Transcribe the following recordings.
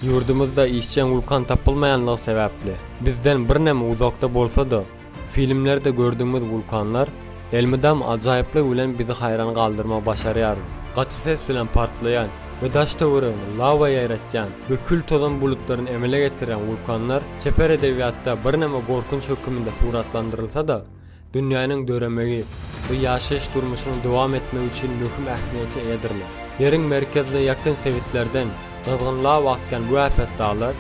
Ýurdumyzda işjeň wulkan tapylmaýanlygy sebäpli, bizden birneme uzakda bolsa-da, filmlerde gördügimiz wulkanlar elmydam ajaýyplygy bilen bizi haýran galdyrmagy başarýar. Gaty ses bilen partlaýan we daş-töweregini lawa ýaýratýan we kül-tozan bulutlaryny emele getirýän wulkanlar çeper edebiýatda birneme gorkunç höküminde suratlandyrylsa-da, Dünýäniň döremegi we ýaşaýyş-durmuşynyň dowam etmegi üçin möhüm ähmiýete eýedirler. Ýeriň merkezine ýakyn sebitlerden gyzgyn law akýan bu äpet daglar,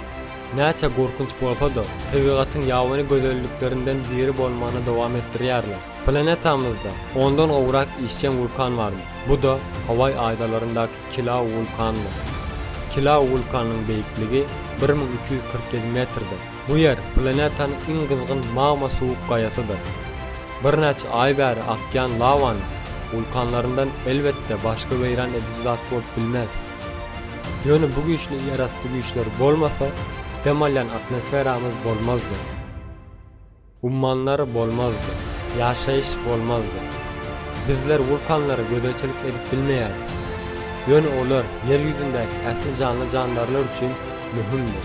näçe gorkunç bolsa-da, tebigatyň ýabany gözelliklerinden biri bolmagyny dowam etdirýärler. Planetamyzda ondan gowrak işjeň wulkan barmy? Bu-da Hawaý adalaryndaky Kilau wulkanydyr. Kilau wulkanynyň beýikligi bir müň iki ýüz kyrk ýedi metrdir. Bu ýer planetanyň iň gyzgyn magma suwuk gaýasydyr. Birnäçe aý bäri akýan lawanyň wulkanlaryndan elbetde başga weýran ediji zat bolup bilmez. Ýöne bu güýçli ýerasty güýçleri bolmasa, dem alýan atmosferamyz bolmazdy. Ummanlar bolmazdy, ýaşaýyş bolmazdy. Bizler wulkanlara gözegçilik edip bilmeýäris. Ýöne olar Ýer ýüzündäki ähli janly-jandarlar üçin möhümdir.